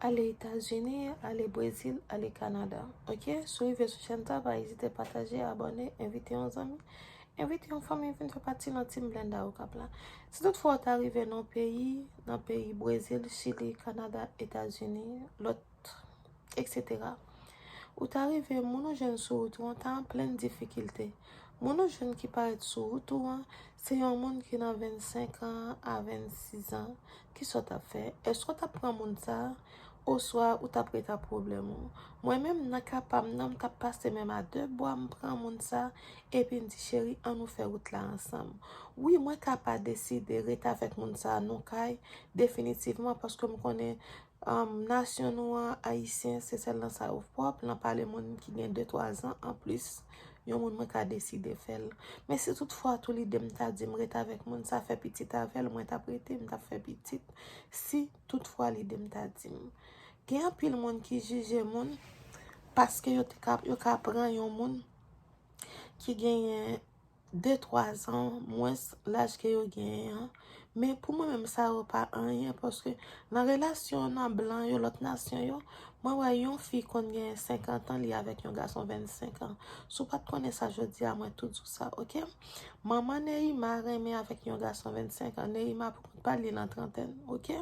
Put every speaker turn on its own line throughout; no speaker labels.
Ale etazini ale brezil ale kanada ok sou rive sou chèn sa pa ezite pataje abòne envite yon zanmi envite yon fanmi vin fè pati nan team Blenda okap la si tout fwa ou ta rive nan peyi nan peyi brezil chili kanada etazini lòt etc ou ta rive moun ou jwenn sou wout ou an ta an plenn difikilte moun ou jwenn ki parèt sou wout ou an se yon moun ki nan 25 an a 26 an Kisa w t ap fè? Èske w t ap pran moun sa a? Oswa ou t ap ret ak pwoblèm ou? Mwen menm, nan ka pa m nan, m t ap pase men m a de bwa, m pran moun sa a, epi m di, Cheri, annou fè wout la ansanm. Wi, mwen ka pa deside ret avèk moun sa a non kay, definitivman, paske m konnen nasyon nou an, Ayisyen, se sèl nan sa yo pwòp, nan pale moun ki gen de twa zan anplis Yon moun mwen ka deside fè l. Men si tout fwa tou lide m ta di m rete avèk moun sa fè pitit avè l, mwen t ap rete, m t ap fè pitit. Si tout fwa lide m ta di m. Gen anpil moun ki jije moun paske yo te ka, yo ka pran yon moun ki genyen de twazan mwens laj ke yo genyen an. Men pou mwen menm sa yo pa anyen paske nan relasyon nan blan yo lòt nasyon yo mwen wè yon fi konn gen 50 an li avèk yon gason 25 an sou pat konnen sa jodi a mwen tout zou sa ok manman Neïma renmen avèk yon gason 25 an Neïma pou kont pal li nan trantèn ok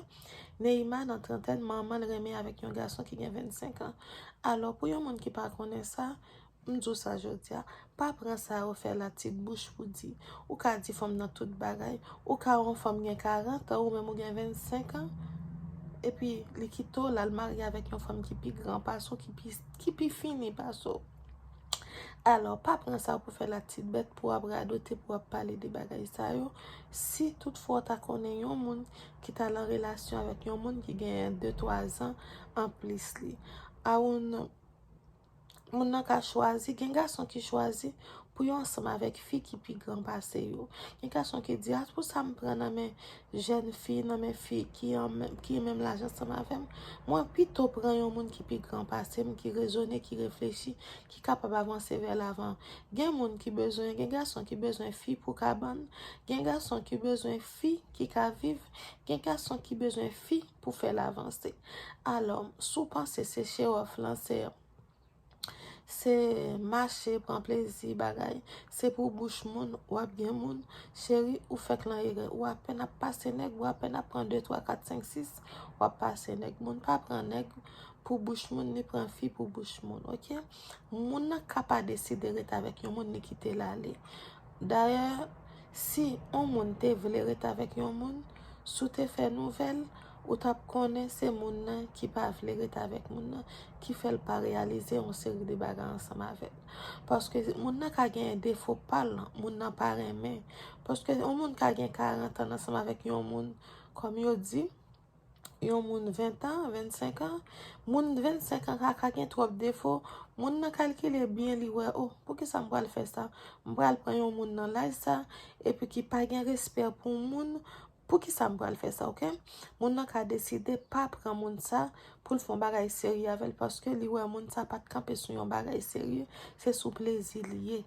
Neïma nan trantèn manman l renmen avèk yon gason ki gen 25 an alò pou yon moun ki pa konnen sa M di w sa jodi a, pa pran sa yo fè la ti bouch pou di. Ou ka di fanm nan tout bagay. Ou ka wè yon fanm gen 40 an, ou menm ou gen 25 an, epi li kite w l al marye avèk yon fanm ki pi gran pase w, ki pi fini pase w. Alò, pa pran sa pou fè la ti bèt, pou w ap radote, pou w ap pale de bagay sa yo. Si tout fwa w ta konnen yon moun ki ta lan relasyon avèk yon moun ki genyen de twazan anplis li. A ou nan, Moun nan ka chwazi, gen gason ki chwazi pou yo ansanm avèk fi ki pi gran pase yo. Gen gason ki di, a pou sa m pran nan men jèn fi, nan men fi ki menm laj ansanm avè m, mwen pito pran yon moun ki pi gran pase m, ki rezone, ki reflechi, ki kapab avanse vè lavan. Gen moun ki bezwen, gen gason ki bezwen fi pou kabann, gen gason ki bezwen fi ki ka viv, gen gason ki bezwen fi. pou fèl avanse alò si w panse se show off lan se mache pran plezi bagay se pou bouch moun wap gen moun cheri ou fèk lan erè ou apèn ap pase nèg ou apèn ap pran 2 3 4 5 6 wap pase nèg moun pa pran nèg pou bouch moun ni pran fi pou bouch moun ok moun nan ka pa deside ret avèk yon moun ni kite l ale dayè Si on moun te vle ret avèk yon moun, si w te fè nouvèl, ou t ap konnen se moun nan ki pa vle ret avèk moun nan ki fè l pa reyalize yon seri de bagay ansanm avè l. Paske moun nan ka genyen defo pa l, moun nan pa renmen. Paske yon moun ka gen karantan ansanm avèk yon moun, kòm yo di. yon moun 20 tan, 25 an, moun 25 an ka gen twòp defo, moun nan kalkile byen li wè, oh, pou ki sa m pral fè sa, m pral pran yon moun nan laj sa, epi ki pa gen respè pou moun, pou ki sa m pral fè sa, ok? Moun nan ka deside pa pran moun sa pou l fè yon bagay serye avè l, paske li wè moun sa pa t kanpe sou yon bagay serye, se sou plezi li ye.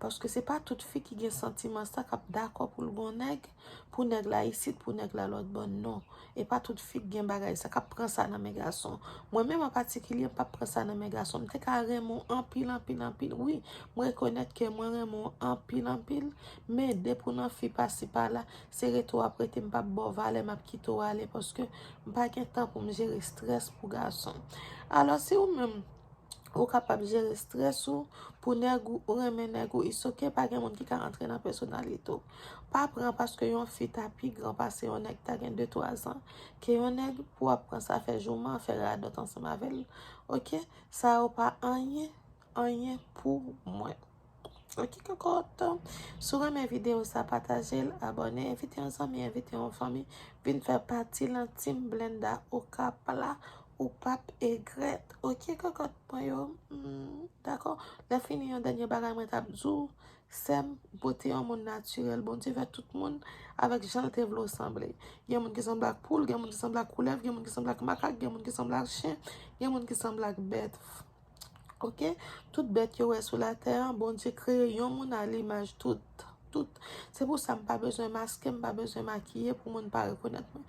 Paske se pa tout fi ki gen santiman sa kap dakò pou l gon nèg, pou nèg la isit, pou nèg la lòt bò non. E pa tout fi ki gen bagay sa kap pran sa nan men gason. Mwen menm an patikilye m pap pran sa nan men gason. M te ka renmen w anpil anpil anpil wi. M rekonèt ke mwen renmen w anpil anpil. Men depi w nan fi pasi pala, se rete w ap rete m pap ba w valè map kite w ale paske m pa gen tan pou m jere strès pou gason. Alò si w menm Ou kapab jere strès ou pou nèg ou, ou renmen nèg ou, it's ok pa gen moun ki ka antre nan pèsonalite ou. Pa pran paske yon fi ta pi gran pase yon nèg ta gen 2 3 zan ke yon nèg pou wap pran sa fè jouman, fè radòt ansanm avèl ok, sa yo pa anyen, anyen pou mwen. Ok kokot, si w renmen video sa pataje l, abone, envite yon zanmi, envite yon fanmi vin fè pati lan team Blenda Okap la ou pap egret ok kokot mwen yo dako lè fini yon dènye bagay mwen tap di w sèm bote yon moun natirèl Bondye fè tout moun avèk jan l te vle w sanble gen moun ki sanble ak poul gen moun ki sanble ak koulèv gen moun ki sanble ak makak gen moun ki sanble ak chen gen moun ki sanble ak bèt. Ok, tout bèt yo wè sou latè an, Bondye kreye yon moun a limaj tout, tout. Se pou sa m pa bezwen maske, m pa bezwen makiye pou moun pa rekonèt mwen.